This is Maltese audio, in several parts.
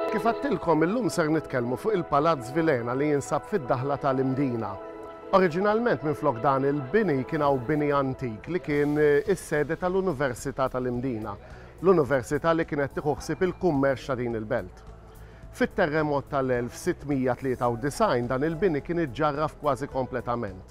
Kif għattilkom illum ser nitkellmu fuq il-Palazz Vilhena li jinsab fid-daħla tal-Imdina. Oriġinalment minflok dan il-bini kien hawn bini antik li kien is-sede tal-Università tal-Imdina, l-università li kienet tieħu ħsieb il-kummerċ ta' din il-belt. Fit-terremot tal-1693 dan il-bini kien iġġarraf kważi kompletament.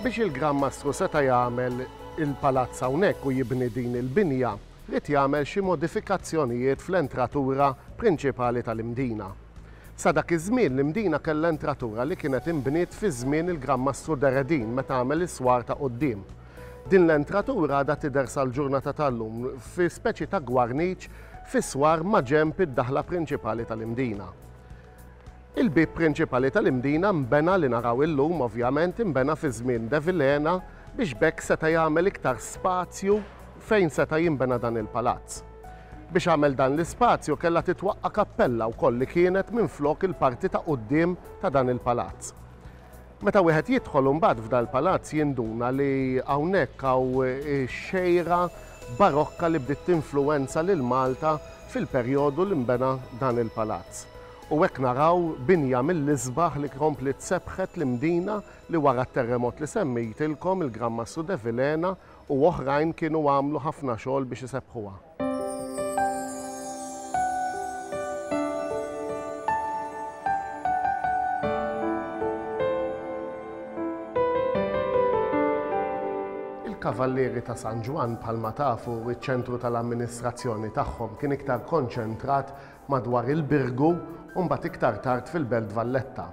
Biex il-Gran Mastru seta' jagħmel il-palazz hawnhekk u jibni din il-binja, ried jagħmel xi modifikazzjonijiet fl-entratura prinċipali tal-Imdina. Sa dak iż-żmien l-Imdina kellha entratura li kienet inbniet fi żmien il-Gran Mastru Deredin meta għamel is-swar ta' quddiem. Din l-entratura għadha tidher sal-ġurnata tal-lum fi speċi ta' gwarniċ fis-swar maġenb id-daħla prinċipali tal-Imdina. Il-bieb prinċipali tal-Imdina nbena li naraw illum ovvjament inbena fi żmien De Vilhena biex b'hekk seta' jagħmel iktar spazju fejn seta' jinbena dan il-palazz. Biex għamel dan l-ispazju kellha titwaqqa' kappella wkoll li kienet minflok il-parti ta' quddiem ta' dan il-palazz. Meta wieħed jidħol imbagħad f'dal-palazz jinduna li hawnhekk hawn ix-xejra barokka li bdiet tinfluwenza lil Malta fil-perjodu li nbena dan il-palazz. U hekk naraw binja mill-isbaħ li kompliet sebbħet l-Imdina li wara t-terremot li semmejtilkom il-Gran Mastru De Vilhena u oħrajn kienu għamlu ħafna xogħol biex isebbħuha. Il-Kavallieri ta' San Ġwann bħalma tafu ċ-ċentru tal-amministrazzjoni tagħhom kien iktar konċentrat madwar il-Birgu u mbagħad iktar tard fil-Belt Valletta.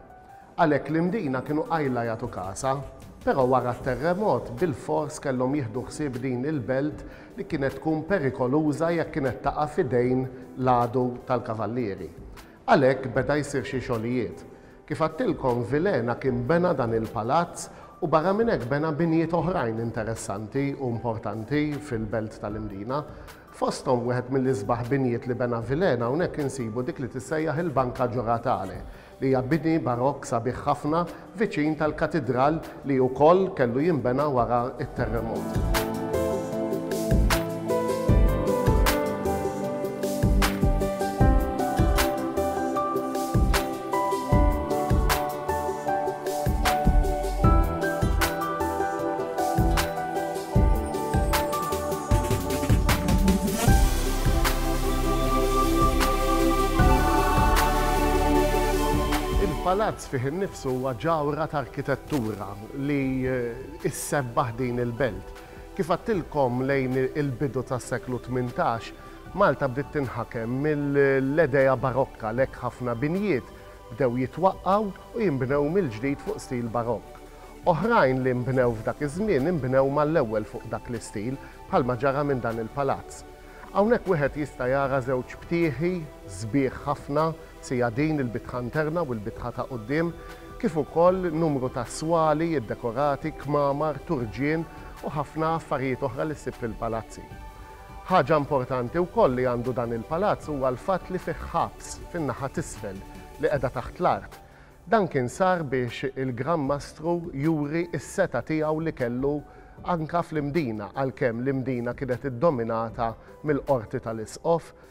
Għalhekk l-Imdina kienu qajla jagħtu kasa, però wara t-terremot bilfors kellhom jieħdu ħsieb din il-belt li kienet tkun perikoluża jekk kienet taqa' f'idejn l-għadu tal-Kavallieri. Għalhekk beda jsir xi xogħlijiet. Kif għadtilkom f'Vilhena kien bena dan il-palazz u barra minn hekk bena binjiet oħrajn interessanti u importanti fil-Belt tal-Imdina. Fosthom wieħed mill-isbaħ binjiet li bena Vilhena hawnhekk insibu dik li tissejjaħ il-Banca Gioratale li hija bini barokk sabiħ ħafna viċin tal-Katidral li ukoll kellu jinbena wara t-terremot. Il-Palazz fih innifsu huwa ġawhra ta' arkitettura li issebbaħ din il-belt. Kif għedtilkom lejn il-bidu tas-seklu tmintax, Malta bdiet tinħakem mill-edea Barokka, għalhekk ħafna binjiet bdew jitwaqqgħu u jinbnew mill-ġdid fuq stil Barokk. Oħrajn li nbnew f'dak iż-żmien inbnew mal-ewwel fuq dak l-istil, bħalma ġara minn dan il-palazz. Hawnhekk wieħed jista' jara żewġ btieħi sbieħ ħafna, sija din, il-bitħa interna u l-bitħa ta' quddiem, kif ukoll numru ta' swali ddekorati, kmamar, turġien u ħafna affarijiet oħra li ssib fil-palazzi. Ħaġa importanti wkoll li għandu dan il-palazz huwa l-fatt li fih ħabs fin-naħa t'isfel li qiegħda taħt l-art. Dan kien sar biex il-Gran Mastru juri s-setgħa tiegħu li kellu anke fl-Imdina għalkemm l-Imdina kienet iddominata mill-Qorti tal-Isqof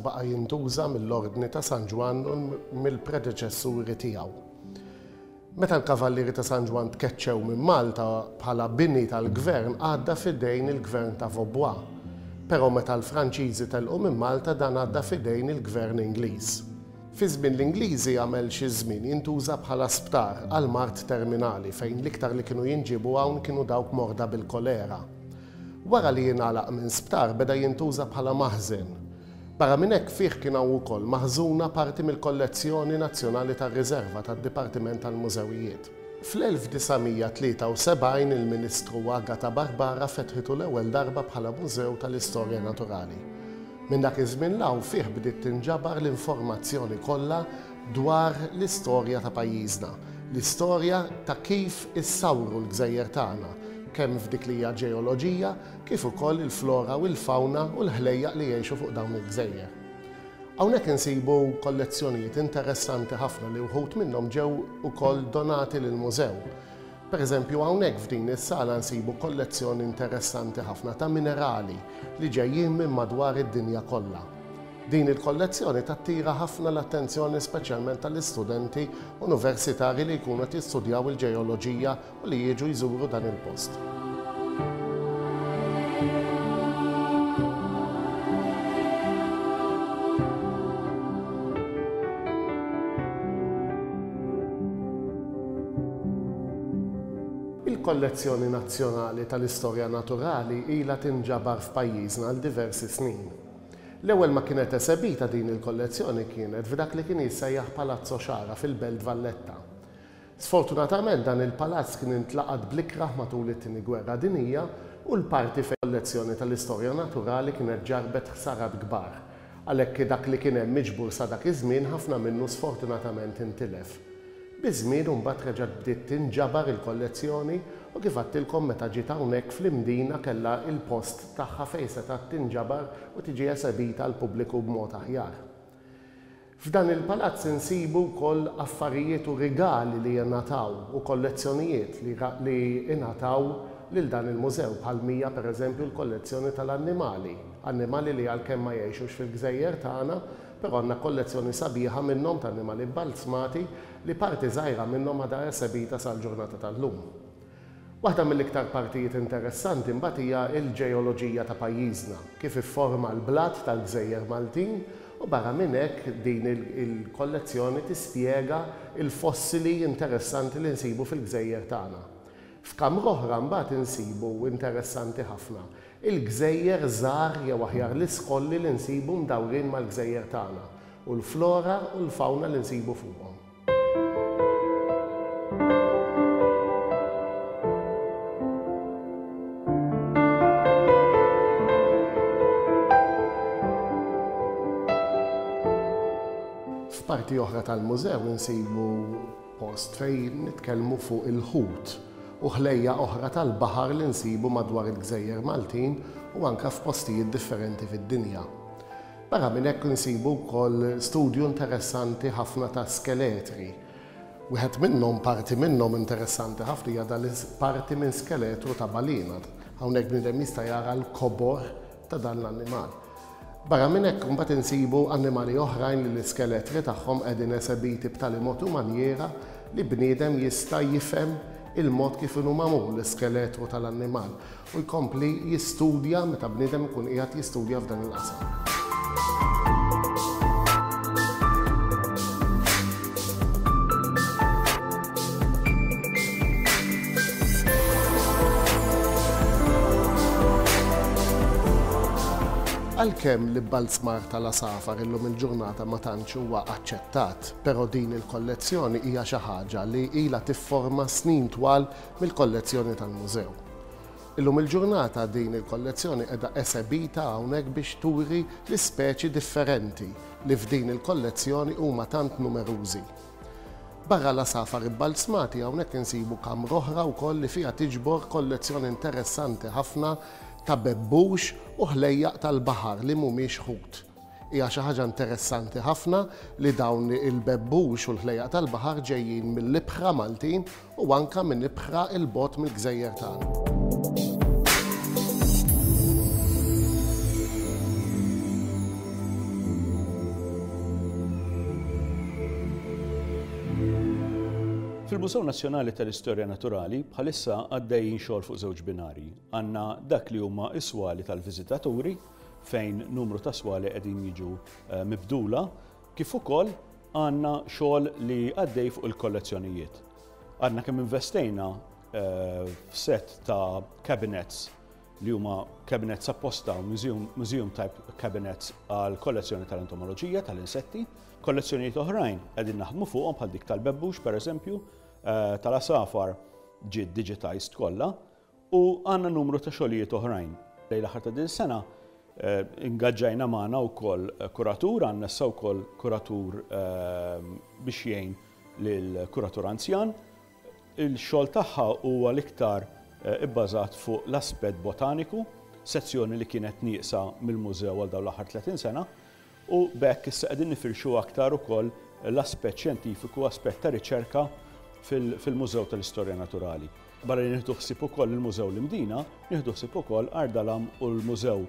Baqa' jintuża mill-Ordni ta' San Ġwann u mill-predeċessuri tiegħu. Meta l-Kavallieri ta' San Ġwann tkeċċew minn Malta bħala bini tal-gvern għadda f'idejn il-gvern ta' Vaubois, però meta l-Franċiżi telqu minn Malta dan għadda f'idejn il-gvern Ingliż. Fi żmien l-Ingliżi għamel xi żmien jintuża bħala sptar għall-mard terminali fejn l-iktar li kienu jinġiebu hawn kienu dawk morda bil-kolera. Wara li ingħalaq minn sptar beda jintuża bħala maħżen. Barra minn hekk fih kien hawn ukoll maħżuna parti mill-kollezzjoni nazzjonali tar-riserva tad-Dipartiment tal-Mużewijiet. Fl-1973 il-Ministru Agata Barbara fetħitu l-ewwel darba bħala Mużew tal-Istorja Naturali. Minn dak iż-żmien 'l hawn fih bdiet tinġabar l-informazzjoni kollha dwar l-istorja ta' pajjiżna, l-istorja ta' kif issawru l-gżejjer tagħna, kemm f'dik li hija l-ġeoloġija kif ukoll il-flora u l-fawna u l-ħlejjaq li jgħixu fuq dawn il-gżejjer. Hawnhekk insibu kollezzjonijiet interessanti ħafna li wħud minnhom ġew ukoll donati lill-Mużew. Per eżempju, hawnhekk f'din is-sala nsibu kollezzjoni interessanti ħafna ta' minerali li ġejjin minn madwar id-dinja kollha. Din il-kollezzjoni tattira ħafna l-attenzjoni speċjalment tal-istudenti universitari li jkunu qed jistudjaw il-ġeoloġija u li jiġu jżuru dan il-post. Il-Kollezzjoni Nazzjonali tal-Istorja Naturali ilha tinġabar f'pajjiżna għal diversi snin. L-ewwel ma kienet esebita din il-kollezzjoni kienet f'dak li kien jissejjaħ Palazzo Ciara fil-Belt Valletta. Sfortunatament dan il-palazz kien intlaqat bl-ikrah matul it-Tieni Gwerra Dinjija u l-parti fejn il-Kollezzjoni tal-Istorja Naturali kienet ġarrbet ħsarat kbar Għalhekk dak li kien hemm miġbur sa dak iż-żmien ħafna minnu sfortunatament intilef. Biż-żmien u mbagħad reġgħet bdiet tinġabar il-kollezzjoni u kif għadtilkom meta ġiet hawnhekk fl-Imdina kellha il-post tagħha fejn setgħet tinġabar u tiġi esebita għall-pubbliku b'mod aħjar. F'dan il-palazz insibu wkoll affarijiet u rigali li ingħataw u kollezzjonijiet li li ingħataw lil dan il-mużew bħal mija per eżempju l-kollezzjoni tal-annimali, annimali li għalkemm ma jgħixux fil-gżejjer tagħna però għandna kollezzjoni sabiħa minnhom t'annimali bbalzmati li parti żgħira minnhom għadha esebita sal-ġurnata tal-lum. Waħda mill-iktar partijiet interessanti mbagħad hija l-ġeoloġija ta' pajjiżna, kif ifforma l-blat tal-gżejjer Maltin u barra minn hekk din il-kollezzjoni tispjega l-fossili interessanti li nsibu fil-gżejjer tagħna. F'kamra oħra mbagħad insibu, interessanti ħafna, il-gżejjer żgħar jew aħjar l-iskolli li nsibu mdawrin mal-gżejjer tagħna u l-flora u l-fawna li nsibu fuqhom. F'parti oħra tal-mużew insibu post fejn nitkellmu fuq il-ħut u ħlejja oħra tal-baħar li nsibu madwar il-gżejjer Maltin u anke f'postijiet differenti fid-dinja. Barra minn hekk insibu wkoll studju interessanti ħafna ta' skeletri. Wieħed minnhom, parti minnhom interessanti ħafna hija dan parti minn skeletru ta' balina. Hawnhekk bniedem jista' jara l-kobor ta' dan l-annimal. Barra minn hekk imbagħad insibu annimali oħrajn li l-iskeletri tagħhom qegħdin esebiti b'tali mod u manjiera li bniedem jista' jifhem il-mod kif inhu magħmul l-iskeletru tal-annimal. u jkompli jistudja meta bniedem ikun qiegħed jistudja f'dan il-qasam. Għalkemm l-ibbalzmar tal-għasafar illum il-ġurnata ma tantx huwa aċċettat, però din il-kollezzjoni hija xi ħaġa li ilha tifforma snin twal mill-kollezzjoni tal-Mużew. Illum il-ġurnata din il-kollezzjoni qiegħda esebita hawnhekk biex turi l-ispeċi differenti li f'din il-kollezzjoni huma tant numerużi. Barra l-għasafar ibbalzmati hawnhekk insibu kamra oħra wkoll li fiha tiġbor kollezzjoni interessanti ħafna ta' bebbux u ħlejjaq tal-baħar li mhumiex ħut. Hija xi ħaġa interessanti ħafna li dawn il-bebbux u l-ħlejjaq tal-baħar ġejjin mill-ibħra Maltin u anke minn ibħra 'l bogħod mill-gżejjer tagħna. Fil-Mużew Nazzjonali tal-Istorja Naturali bħalissa għaddejjin xogħol fuq żewġ binarji. Għandna dak li huma s-swali tal-viżitaturi fejn numru ta' swali qegħdin jiġu mibdula, kif ukoll għandna xogħol li għaddej fuq il-kollezzjonijiet. Għadna kemm investejna f'set ta' cabinets li huma cabinets apposta u museum type cabinets għal kollezzjoni tal-entomoloġija tal-insetti. Kollezzjonijiet oħrajn qegħdin naħdmu fuqhom bħal dik tal-bebbux pereżempju, tal-għasafar ġiet digitized kollha, U għandna numru ta' xogħlijiet oħrajn. Lejn l-aħħar ta' din is-sena ingaġġajna magħna wkoll kuratur, għandna issa wkoll kuratur biex jgħin lill-kuratur anzjan. Il-xogħol tagħha huwa l-iktar ibbażat fuq l-aspett botaniku, sezzjoni li kienet nieqsa mill-mużew għal dawn l-aħħar 30 sena, U b'hekk issa qegħdin nifirxu aktar ukoll l-aspett xjentifiku u aspett ta' riċerka fil-Mużew tal-Istorja Naturali. Barra li nieħdu ħsieb ukoll il-Mużew l-Imdina, nieħdu ħsieb ukoll Għar Dalam u l-Mużew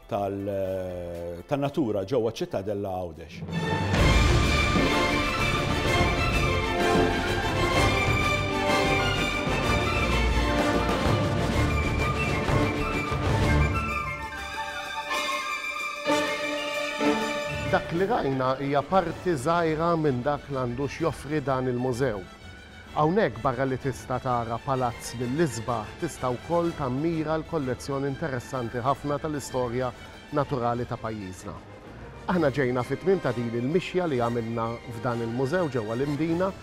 tan-Natura ġewwa ċ-Ċittadella Għawdex. Dak li rajna hija parti żgħira minn dak li għandu x'joffri dan il-mużew. Hawnhekk barra li tista' tara palazz mill-isbaħ tista' wkoll tammira l-kollezzjoni interessanti ħafna tal-istorja naturali ta' pajjiżna. Aħna ġejna fit-tmiem ta' din il-mixja li għamilna f'dan il-mużew ġewwa l-Imdina.